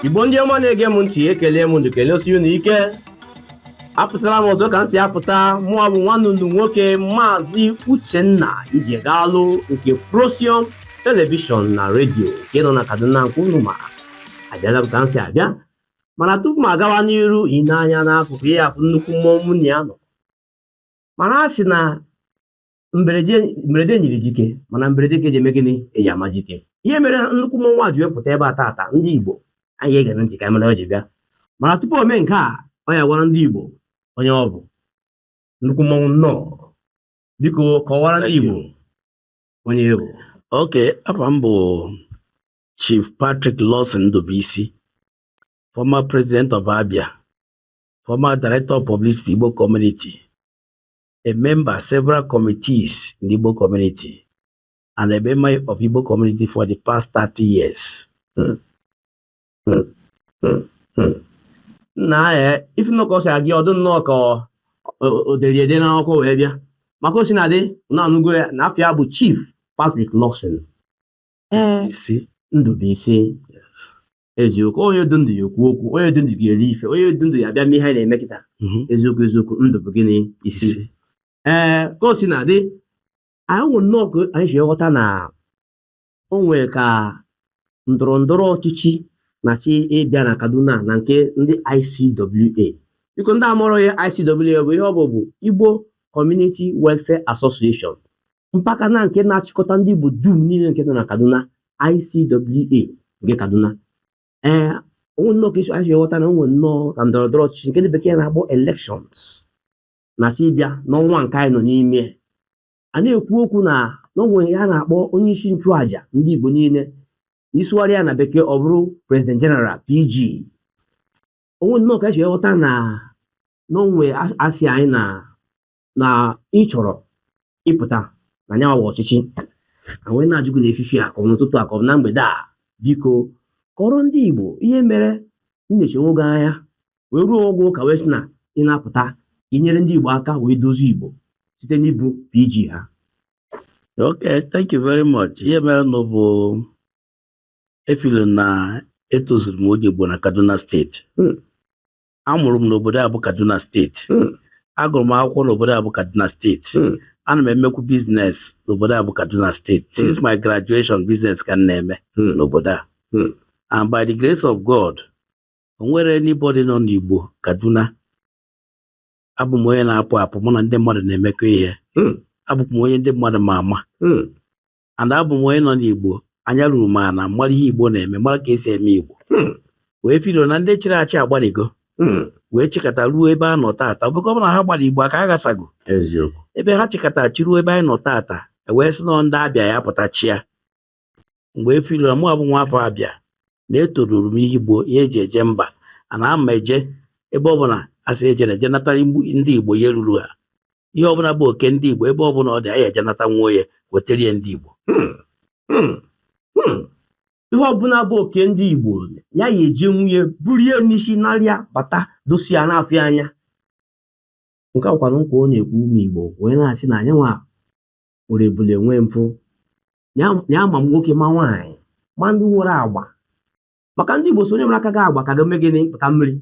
igbo ndị ọma na-ege m ntị ekelee m unu kelesie unu ike apụtara m ọzọ ka m si apụta mụwa bụ nwanne unu nwoke maazị uchenna ijegalụ nke prosium telivishọn na redio nke nọ na kaduna nke unu ma abịala m ka m si abịa mana tupu m agawa n'iru i nee anya n'akụkụ ị ya-afụ nnukwu mmọnwụ mụ na ya nọ mana a sị na mberede nyiri dike mana mberede ka eji eme gịnị eji ama dike ihe mere nnukwu mmọnwụ a ji wee pụta ebe a taata ndị Igbo anyị ga-ege ntị ka a mara ihe o ji bịa mana tupu o mee nke a ọ ya-agwa ndị Igbo onye ọ bụ nnukwu mmọnwụ nnọọ biko kọwara ndị Igbo onye ị bụ ok afa m bụ Chief Patrick Lawson Ndubuisi former president of Abia former director of publicity Igbo community a member several committees in the Igbo community and a member of Igbo community for the past 30 years. Hmm. Hmm. Hmm. Hmm. Nnaa ife nwoke a si agụ ọ dị nnọọ ka ọ- o- o dere ede n'akwụkwọ wee bịa ma ka o sina dị unu anụgo ya na afa ya bụ Chief Patrick Lawson. Ee, Isi. Ndubuisi. eziokwu onye dụ ndụ ya-ekwu okwu onye dụ ndụ ya-eri ife onye dụ ndụ ya-abịa mee ihe anyị na-eme kịta Mhm. eziokwu eziokwu ndụ bụ gịnị isi Isi. ee ka o sina dị anyị nwere nnọọ ka anyị si ghọta na o nwere ka ndọrọ ndọrọ ọchịchị na-achọ ịbịa na Kaduna na nke ndị ICWA biko ndị amarọ ya ICWA bụ ihe ọ bụ bụ Igbo Community Welfare Association mpaghara nke na-achịkọta ndị Igbo dum niile nke nọ na Kaduna ICWA nke Kaduna ee o nwee nnọọ ka anyị si ghọta na o nwee nnọọ ka ndọrọ ndọrọ ọchịchị nke ndị bekee na-akpọ elections na-achọ ịbịa n'ọnwa nke anyị nọ n'ime ya na-ekwu okwu na o nwee ihe a na-akpọ onye isi nchụàja ndị Igbo niile isụgharị ya na bekee ọ bụrụ president general PG o nwee nnọọ ka e si ghọta na o nwee asị anyị nụ na ị chọrọ ịpụta na nya wụ agba ọchịchị a wee na-ajụ gị n'efifie a ka ọ n'ụtụtụ a ka ọ na mgbede a biko kọrọ ndị Igbo ihe mere i nechaa onwe gị anya wee ruo ogo ka wee sị na ị na-apụta inyere ndị Igbo aka wee dozie Igbo site n'ịbụ PG ha Okay, thank you very much. Ihe merenụ bụ I feel na etozuru m onye Igbo na Kaduna steeti hmm. amụrụ m n'obodo a bụ Kaduna steeti hmm. agụrụ m akwụkwọ n'obodo a bụ Kaduna steeti hmm. ana m emekwu biznes n'obodo a bụ Kaduna steeti hmm. since my graduation biznes ka m na-eme n'obodo a and by the grace of God o nwerọ anybody nọ n'Igbo Kaduna abụ m onye na-apụ apụ mụ na ndị mmadụ na-emekọ ihe abụkwa m onye ndị mmadụ ma ama and abụ m onye nọ n'Igbo anya ruru m ana mara ihe Igbo na-eme mara ka esi eme Igbo hmm. wee filo na ndị chịrị achị agbaligo hmm. wee chịkata ruo ebe a nọ taata ọ bụkwa na ha gbara Igbo aka ha ghasago ebe ha chịkata chịruo ebe anyị nọ taata e wee sị na ndị Abịa ya pụta chịa m wee filo na mụa bụ nwa afọ Abịa na etoruru m ihe Igbo ji eje mba na m ya eje ebe ọ bụla a sị eje na eje natara ndị Igbo ihe ruru ha ihe ọbụla bụ oke ndị Igbo ebe ọbụla ọ dị anyị eje nata nwa ya wetara ya ndị Igbo hmm, hmm, hmm. ihe ọbụla bụ oke ndị Igbo ya ya eje nwunye burie n'isi narịa bata dosi ya na-afụ anya nke akwara nkwa ọ na-ekwu ụmụ Igbo wee na-asị na anyị nwa nwere ebule nwee mpụ ya ya ma nwoke ma nwaanyị ma ndị nwere agba maka ndị Igbo sị onye mara aka ga-agba ka ga-eme gịnị pụta mmiri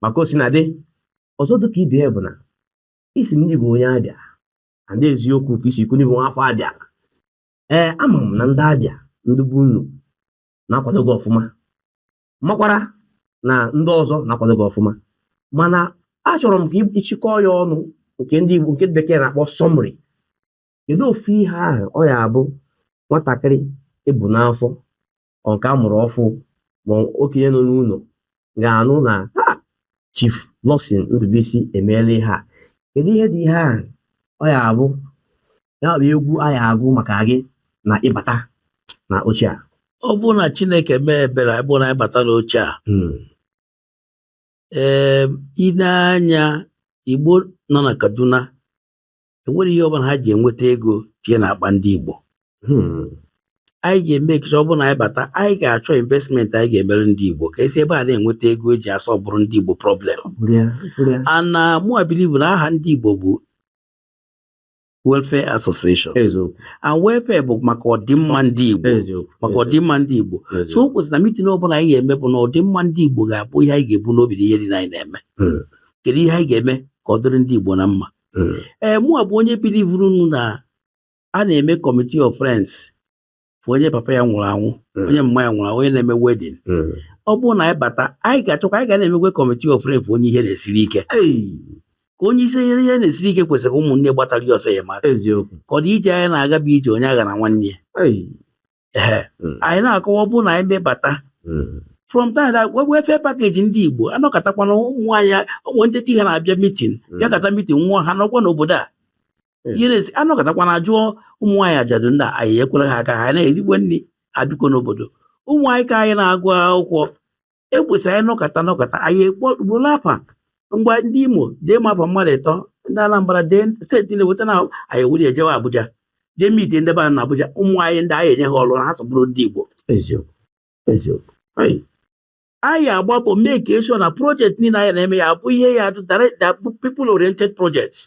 maka ọ sị na ndị ọzọ dịka ibe ya bụ na ị sị m na ị bụ onye Abịa na ndị eziokwu ka i si ikwu na ị bụ nwa afọ Abịa ee ama m na ndị Abịa ndị bụ unu na-akwado gị ọfụma makwara na ndị ọzọ na-akwado gị ọfụma mana achọrọ m ka ị- ị chịkọọ ya ọnụ nke ndị Igbo nke bekee na-akpọ sọmri kedu ofu ihe ahụ ọ ya abụ nwatakịrị ebu n'afọ or nke a mụrụ ọfụ ma okenye nọ n'ụlọ ga-anụ na ha Chief Lawson Ndubuisi emeela ihe a kedu ihe dị ihe ahụ ọ ya abụ ya bụ egwu a ya agụ maka gị na ịbata na oche a ọ bụrụ na Chineke mee ebere ọ bụrụ na anyị bata n'oche a Hmm. ee i lee anya Igbo nọ na Kaduna enwerọ ihe ọbụla ha ji enweta ego tie na akpa ndị Igbo hmm. anyị ga-eme ka ọ bụrụ na anyị bata anyị ga-achọ investment anyị ga-emere ndị Igbo ka esi ebe a na-enweta ego eji asọlvụrụ ndị Igbo problem and mụa bilivu na aha ndị Igbo bụ welfare association and welfare bụ maka ọdịmma ndị Igbo maka ọdịmma ndị Igbo so o kwesịrị na mitin ọbụla anyị ga-eme bụ na ọdịmma ndị Igbo ga-abụ ihe anyị ga-ebu n'obi na ihe niile anyị na-eme hmm. kedu ihe anyị ga-eme ka ọ dịrị ndị Igbo na mma hmm. ee mụa bụ onye bilivurunụ na a na-eme kọmitii of friends for onye papa ya nwụrụ anwụ hmm. onye mma ya nwụrụ anwụ onye na-eme wedin hmm. ọ bụrụ na anyị bata anyị ga-achọkwa anyị ga na-emekwe kọmitii of friends for onye ihe na-esiri ike ka onye isi ihe ihe na-esiri ike kwesịrị ka ụmụnne gbatara ya ọsọ enyemaka eziokwu ka ụdị ije anyị na-aga bụ ije onye aghana nwanne ya Ehe. Mm. anyị na-akọwa ọ bụrụ na anyị mebata Mm. from time that welfare package ndị Igbo anọkatakwana ụmụ nwanyị ụmụ ndị di ha na-abịa mitin Mm. bịa kata mitin nwụọ ha nọkwa n'obodo a Mm. yere esi anọkatakwana jụọ ụmụ nwanyị ajadu ndị a, enyekwara ha aka ha na-erikwa nri ha bikwa n'obodo ụmụ anyị ka anyị na-agụ akwụkwọ e kwesị anyị nọkata nọkata anyị ekpọgbolo afa ngwa ndị Imo dee ma afa mmadụ ịtọ ndị Anambra dee steeti niile weta na anyị ewuru ejewe Abuja jee meet ndị be anyị na Abuja ụmụ anyị ndị anyị enye ha ọrụ ha sọ bụrụ ndị Igbo eziokwu eziokwu Anyị anyị agba mbọ make sure na project niile anyị na-eme ya abụ ihe ya adụ direct people oriented projects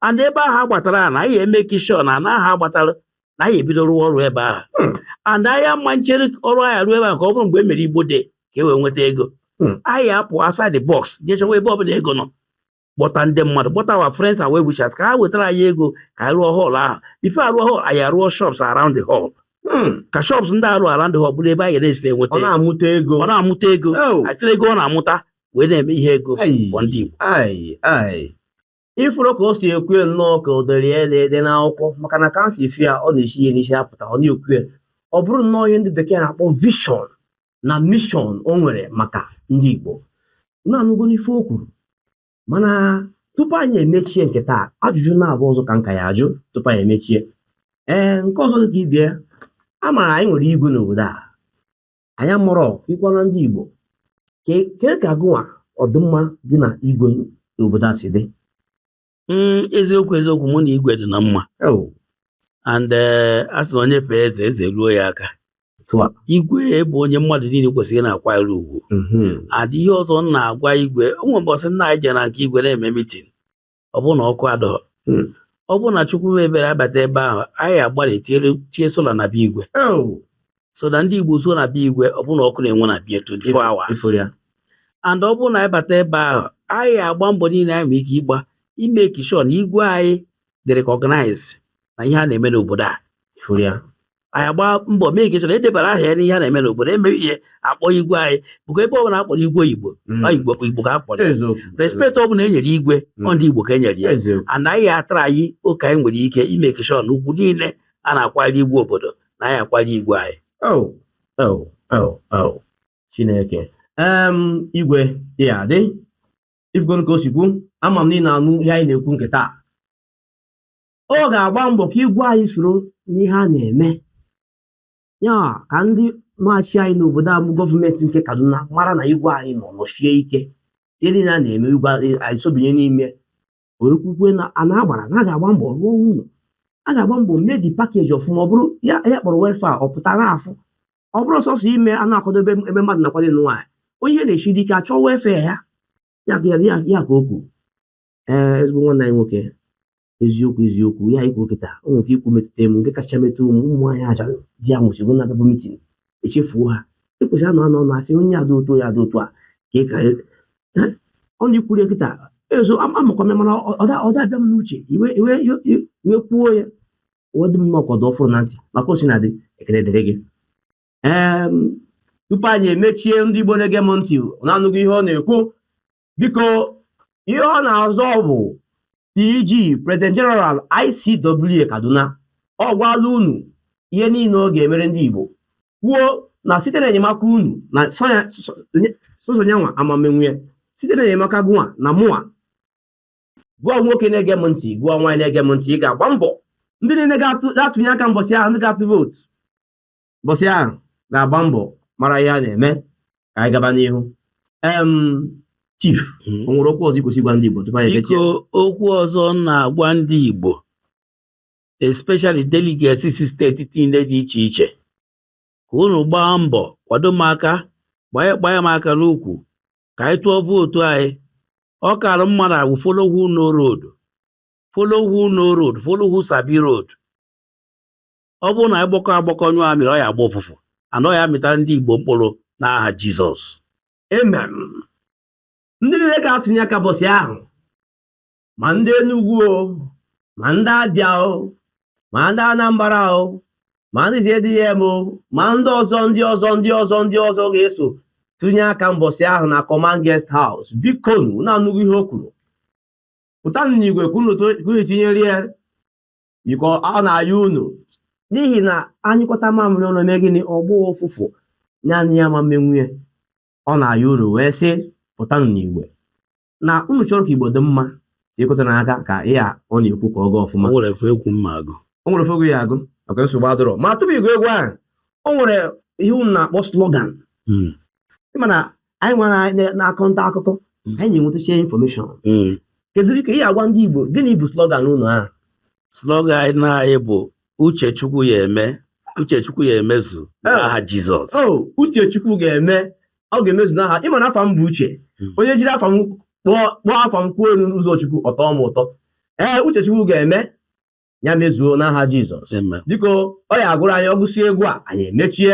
and ebe ahụ agbatara na anyị e make sure na ana ahụ agbatara na anyị ebido rụwa ọrụ ebe ahụ hmm. and anyị ama nchere ọrụ anyị arụ ebe ahụ ka ọ bụrụ mgbe e mere Igbo Day ka e wee nweta ego hmm. anyị apụ outside the box jee chọwa ebe ọbụla ego nọ kpọta ndị mmadụ kpọta our friends and well wishers ka ha wetara anyị ego ka anyị rụọ hall ahụ before arụọ hall anyị arụọ shops around the hall Hmm. ka shops ndị arụ around the hall bụrụ ebe a ga na-esi enweta ọ na-amụta ego ọ na-amụta ego oh. e siri ego ọ na-amụta wee na-eme ihe ego for ndị Igbo ị fụrụ ka o si ekwue nnọọ ka o dere ya ede n'akwụkwọ maka na ka m si fụ ya ọ na-esi ya n'isi apụta ọ na-ekwue ọ bụrụ nnọọ ihe ndị bekee na-akpọ vision na mission o nwere maka ndị Igbo unu anụgo nụ ife o kwuru mana tupu anyị emechie nke taa ajụjụ naabọ ọzọ ka m ka ya-ajụ tupu anyị emechie ee nke ọzọ dị ka ibe ya a maara anyị nwere igwe n'obodo a anyị amụrụ ịkọwara ndị Igbo kee ka gịnwa ọdịmma gị na igwe n'obodo a si dị hmm, eziokwu eziokwu mụ na igwe dị na mma and eh, a sị na onye fee eze eze ruo ya aka igwe bụ onye mmadụ niile kwesịrị na-akwanyere ugwu mm-hmm. and ihe ọzọ m na-agwa igwe o nwere ụbọchị nna anyị jere na nke igwe na-eme mitin ọ bụrụ na ọkụ adọghọ hmm. ọ bụrụ na Chukwu mee ebere anyị bata ebe ahụ anyị agbalịa tie solar na be igwe oh. so that ndị Igbo zuo na be igwe ọ bụrụ na ọkụ na-enwu na be ya 24 hours and ọ bụrụ na anyị bata ebe ahụ anyị agba mbọ niile anyị nwere ike ịgba i make sure na igwe anyị dị recognized na ihe a na-eme n'obodo a anyị agba mbọ make sure edebara aha ya n'ihe a na-eme n'obodo e mee ihe a kpọọ igwe anyị bụkwa ebe ọbụla akpọrọ igwe ọ Igbo mm. Igbo Igbo ka akpọrọ respect ọ bụla enyere igwe mm. ọ ndị Igbo ka enyere ya and anyị a-try oke anyị nwere ike i make sure na ugwu niile a na-akwanyere igwe obodo na anyị akwanyere igwe anyị oh, oh, oh, Chineke igwe ya-adị ị fụgoro ka o si kwuo ama m na ị na-anụ ihe anyị na-ekwu nke taa ọ ga-agba mbọ ka igwe anyị soro n'ihe a na-eme ya ka ndị na-achị anyị n'obodo a bụ gọọmenti nke Kaduna mara na igwe anyị nọ nọchie ike ihe niile a na-eme igwe anyị sobinye n'ime wee kwukwaa na a na-agbara na a ga-agba mbọ rụọ ụlọ a ga-agba mbọ mee the package ọfụma ọ bụrụ ihe a kpọrọ welfare ọ pụtara afụ ọ bụrọ sọsọ ime a na-akwadobe ebe mmadụ na-akwado ịnụ nwaanyị onye ihe na-esiri ike a chọọ welfare ya ya ka ya ya ka o kwuru ee ezigbo nwanne anyị nwoke eziokwu eziokwu ihe a i kwuru kịta o nwere nke i kwuru metụta mụ nke kacha metụ ụmụ ụmụ nwaanyị ajadu ya nwụchiri na-abịabu mitin echefuo ha e kwesịrị a na a na na-asị onye a dị otu onye a dị otu a ka ị ka eh, ọ na i kwuru ya kịta ezo am- amakwa m ya mana ọ- ọ da- ọ da-abịa m n'uche i wee i wee i wee i wee kwuo ya o wee dị m nnọọ ka ọ dị ọfụrụ na ntị ma ka o sina dị ekele dịrị gị Em, tupu anyị emechie ndị Igbo na-ege m ntị na-anụghị ihe ọ na-ekwu biko ihe ọ na-azọ bụ PG President General ICWA Kaduna ọ gwaala unu ihe niile ọ ga-emere ndị Igbo kwuo na site na enyemaka unu na sọsọ yanwa ama emenwu ya site na enyemaka gụnwa na mụnwa gị bụ nwoke na-ege m ntị gị bụ nwaanyị na-ege m ntị ị ga-agba mbọ ndị niile ga-atụnye aka mbọsị ahụ ndị ga-atụ vootu bọsị ahụ ga-agba mbọ mara ihe a na-eme ka anyị gaba n'ihu em chief Mm. o nwere okwu ọzọ i kwesịrị gwa ndị Igbo tupu anyị ekechie biko okwu ọzọ m na-agwa ndị Igbo especially delegates si steeti niile dị iche iche ka unu gbaa mbọ kwado m aka gbanye gbanye m aka n'ukwu ka anyị tụọ vootu anyị ọ kara mma na awụ follow who know road follow who know road follow who sabi road ọ bụrụ na anyị gbakọ agbakọ nyụọ amịrị ọ ya agba ụfụfụ and ọ ya amịtara ndị Igbo mkpụrụ n'aha Jizọs amen ndị niile ga-atụnye aka bọsị ahụ ma ndị Enugu o ma ndị Abịa o ma ndị Anambra o ma ndị ZDM o ma ndị ọzọ ndị ọzọ ndị ọzọ ndị ọzọ ga-eso tụnye aka mbọsị ahụ na Command Guest House biko unu anụghị ihe o kwuru pụtanụ n'igwe kwunu tinyere ya biko ọ na-ayọ unu n'ihi na a nyụkọta mamịrị ọnụ o mee gịnị ọ gbọọ ụfụfụ naanị ya ama emenwu ya ọ na-ayọ unu wee sị pụtanụ n'igwe na unu chọrọ ka Igbo dị mma tikọtanụ aka ka ihe a ọ na-ekwu ka ọ gaa ọfụma o nwere ife egwu m ma-agụ o nwere ife egwu ị ya-agụ okay nsogbu adịrọ ma tupu ị gụọ egwu ahụ o nwere ihe unu na-akpọ slogan hmm. ị ma na anyị nwere anyị na-akọ nta akụkọ Mm. anyị na-enwetacha infọmeshọn Mm. kedu ka ị ya-agwa ndị Igbo gịnị bụ slogan unu ahụ slogan anyị na anyị bụ uche chukwu ya-eme uche chukwu ya emezu Eh. n'aha jizọs o uche Chukwu ga-eme ọ ga-emezu n'aha ị ma na afa m bụ uche Mm. onye jiri afa m kpọọ kpọọ afa m kwuo elu n'ụzọ Chukwu ọ tọọ m ụtọ ee uche Chukwu ga-eme ya mezuo n'aha Jizọs Amen. biko ọ ya-agụrụ anyị ọ gụsị egwu a anyị emechie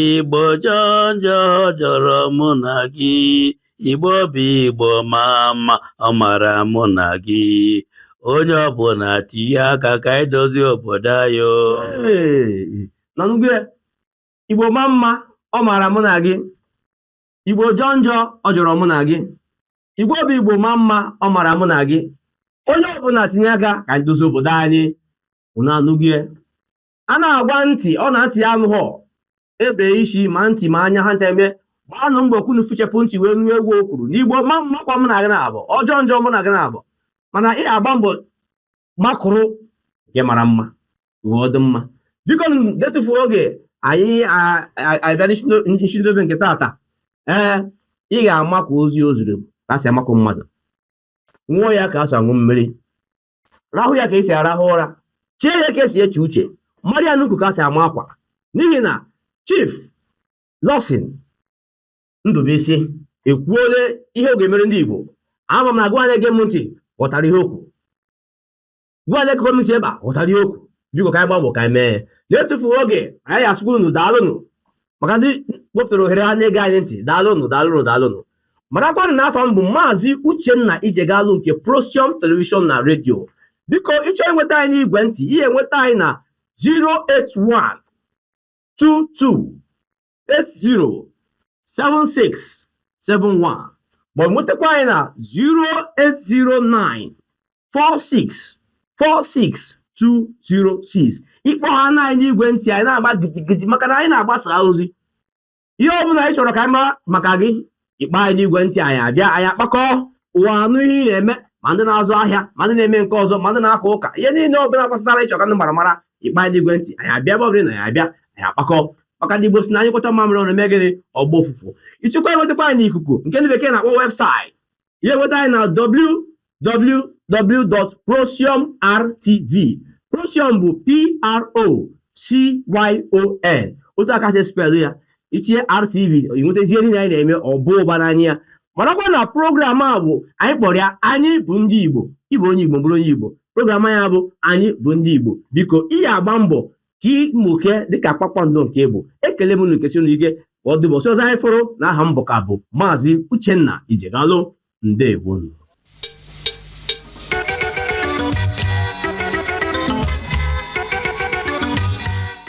Igbo jọọ njọ ọ jọrọ mụ na gị Igbo bụ Igbo maa mma ọ mara mụ na gị onye ọbụla tinye aka ka anyị dozie obodo anyị o. Hey, unu anụgo ya? Igbo maa mma ọ mara mụ na gị Igbo jọọ njọ ọ jọrọ mụ na gị Igbo bụ Igbo maa mma ọ mara mụ na gị onye ọbụla tinye aka ka anyị dozie obodo anyị unu anụgo ya? a na-agwa ntị ọ na ntị ya anụghọ e bee isi ma ntị ma anya ha ncha eme gbaanụ mbọ ka unu fichapụ ntị wee nụ egwu o kwuru na Igbo maa mma ọ kwa mụ na gị na-abụ ọ jọọ njọ mụ na gị na-abụ mana ị ya-agba mbọ makụrụ nke mara mma o wee dụ mma biko etufu oge anyị abịa njedobe nke tata ee ị ga-amakụ ozi o ziri ka a si amakụ mmadụ ṅụọ ya ka a si aṅụ mmiri rahụ ya ka esi arahụ ụra chee ya ka esi eche uche mara ya n'ukwu ka esi ama akwa n'ihi na chief Lawson Ndubuisi ekwuole ihe ọ ga-emere ndị igbo ama m na gị wa na-ege m ntị ghọtara ihe okwu gị wa na-egekọ m ntị ebe a ghọtara ihe okwu biko ka anyị gbaa mbọ ka anyị mee na-etufughị oge anyị asịkwa unu daalụnụ maka ndị wepụtara ohere ha na-ege anyị ntị daalụnụ daalụnụ daalụnụ marakwanụ na afa m bụ maazị uchenna ijegalụ nke Procyon telivishọn na redio biko ị chọọ inweta anyị n'igwe ntị ị ya-enweta anyị na 081 22 80 76 71 ma ọ bụ nwetakwa anyị na 0809 4646206 ị kpọhaana anyị n'igwe ntị anyị na-agba gidigidi maka na anyị na-agbasa ozi ihe ọ bụla ị chọrọ ka a mara maka gị ị kpọọ anyị n'igwe ntị anyị abịa anyị akpakọ ụwa anụ ihe ị na-eme ma ndị na-azụ ahịa ma ndị na-eme nke ọzọ ma ndị na-aka ụka ihe niile ọ bụla gbasara ị chọọ ka ndị mmadụ mara ị kpọọ anyị n'igwe ntị anyị abịa ebe ọ bụla na anyị abịa anyị akpakọ maka ndị Igbo si na a nyụkọta mamịrị ọnụ mee gịnị ọ gbaa ụfụfụ ị chọkwa inwetakwa anyị n'ikuku nke ndị bekee na-akpọ website ya enweta anyị na www.procyonrtv procyon bụ p-r-o-c-y-o-n otu a ka e si spelụ ya i tinye rtv i nwetazie ihe niile anyị na-eme ọ bụ ụba n'anya ya marakwa na program a bụ anyị kpọrọ ya anyị bụ ndị igbo ị bụ onye igbo bụrụ onye igbo program anyị bụ anyị bụ ndị igbo biko ị ya-agba mbọ ka ị mụkee dịka kpakpando nke ị bụ ekele m unu nke sinu ike ka ọ dị ụbọsị ọzọ anyị fụrụ na aha m bụ ka bụ maazị uchenna ijegalụ ndewo